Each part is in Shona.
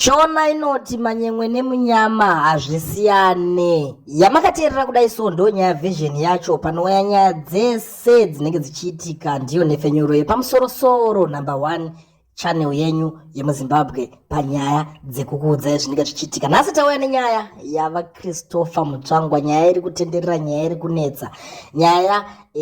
Shona inoti manyemwe nemunyama hazvisiyane. Yamakateerera kudai so ndo nyaya version yacho panouya nyaya dzese dzinenge dzichiitika ndiyo nhepfenyuro yepamusoro soro number one channel yenyu yemuzimbabwe panyaya dzekukuudzai zvinenge zvichiitika nhasi tauya nenyaya yava christopher mutsvangwa nyaya iri kutenderera nyaya iri kunetsa nyaya e,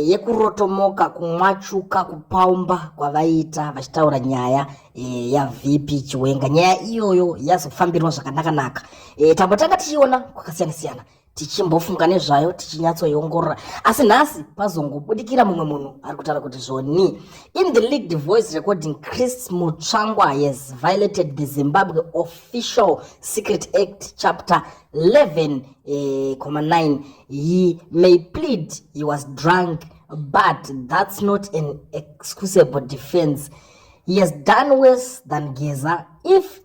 yekurotomoka kumwachuka kupaumba kwavaiita vachitaura nyaya e, yavp chiwenga nyaya iyoyo yazofambirwa zvakanakanaka e, tambotanga tichiona kwakasiyana siyana tichimbofunga nezvayo tichinyatsoiongorora asi nhasi pazongobudikira mumwe munhu ari kutaura kuti zvoni in the leaked voice recording chris mutsvangwa has violated the zimbabwe official secret act chapter 11 eh, 9 he may plead he was drunk but that's not an excusable defense He has done worse than Geza. If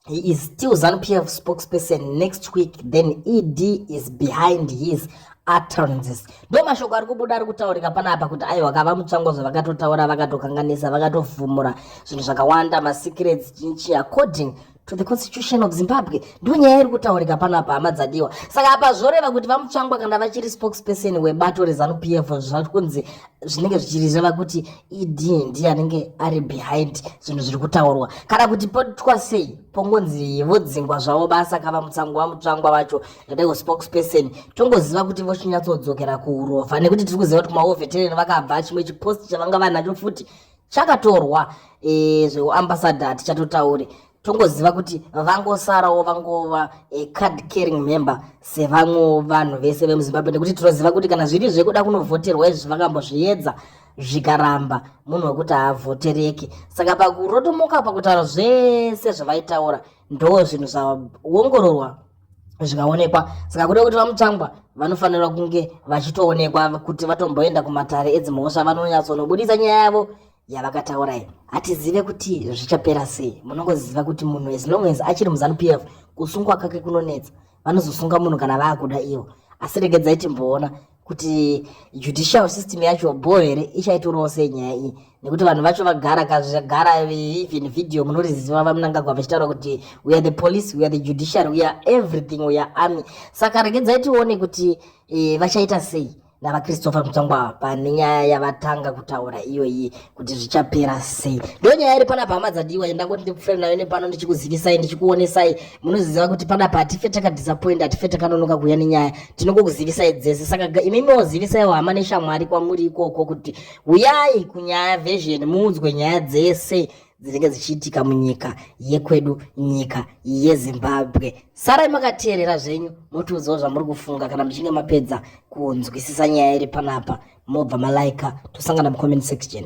he is still Zanu PF spokesperson next week, then ED is behind his utterances. Ndo mashoko ari kubuda ari kutaurika panapa kuti aiwa kava mutsvangozve vakatotaura vakatokanganisa vakatofumura zvinhu zvakawanda masecrets chinchi according to the constitution of zimbabwe ndiyo nyaya iri kutaurika pano apa hama dzadiwa saka apa zvoreva kuti vamutsvangwa kana vachiri spokesperson webato rezanup f zvati kunzi zvinenge zvichirizeva kuti ed ndiye anenge ari behind zvinhu zviri kutaurwa kana kuti potwa sei pongonzi vodzingwa zvavo basa ka vamutsangwa vamutsvangwa vacho ndadaiwo spokesperson tongoziva kuti vochinyatsodzokera kuurova nekuti tiri kuziva kuti kumaovetereni vakabva chimwe chipost chavanga vanacho futi chakatorwa e, zveuambassador tichatotaure tongoziva kuti vangosarawo vangova e, card caring member sevamwewo vanhu vese vemuzimbabwe nekuti tinoziva kuti kana zviri zvekuda kunovhoterwa izvi vakambozviedza zvikaramba munhu wekuti haavhotereki saka pakurotomoka pakutaura zvese zvavaitaura ndoo zvinhu zvaongororwa zvikaonekwa saka kuda kuti vamutsvangwa vanofanira kunge vachitoonekwa kuti vatomboenda kumatare edzimhosva vanonyatsonobudisa nyaya yavo yavakataura iyi hatizive kuti zvichapera sei munongoziva kuti munhu as long as achiri muzanu p f kusungwa kake kunonetsa vanozosunga munhu kana vaakuda ivo asi regedzai timboona kuti judicial system yacho bho here ichaitorawo sei nyaya iyi nekuti vanhu vacho vagara kazvagara even video munoriziva vamunangagwa vachitaura kuti we are the police we are the judiciary we are everything we are army saka regedzai tione kuti e, vachaita sei navachristopher mutsvangwa pane nyaya yavatanga kutaura iyoyi kuti zvichapera sei ndo nyaya iri panapa hama dzadiwa yendangoti ndikufere nayo nepano ndichikuzivisai ndichikuonesai munoziziva kuti panapa hatife takadisappoint hatife takanonoka kuuya nenyaya tinongokuzivisai dzese saka imi miozivisaiwo hama neshamwari kwamuri ikoko kuti uyai kunyaya version muudzwe nyaya dzese dzinenge dzichiitika munyika yekwedu nyika yezimbabwe sarai makateerera zvenyu motiudzawo zvamuri kufunga kana muchinge mapedza kunzwisisa nyaya iri panapa mobva malaika tosangana mucomment section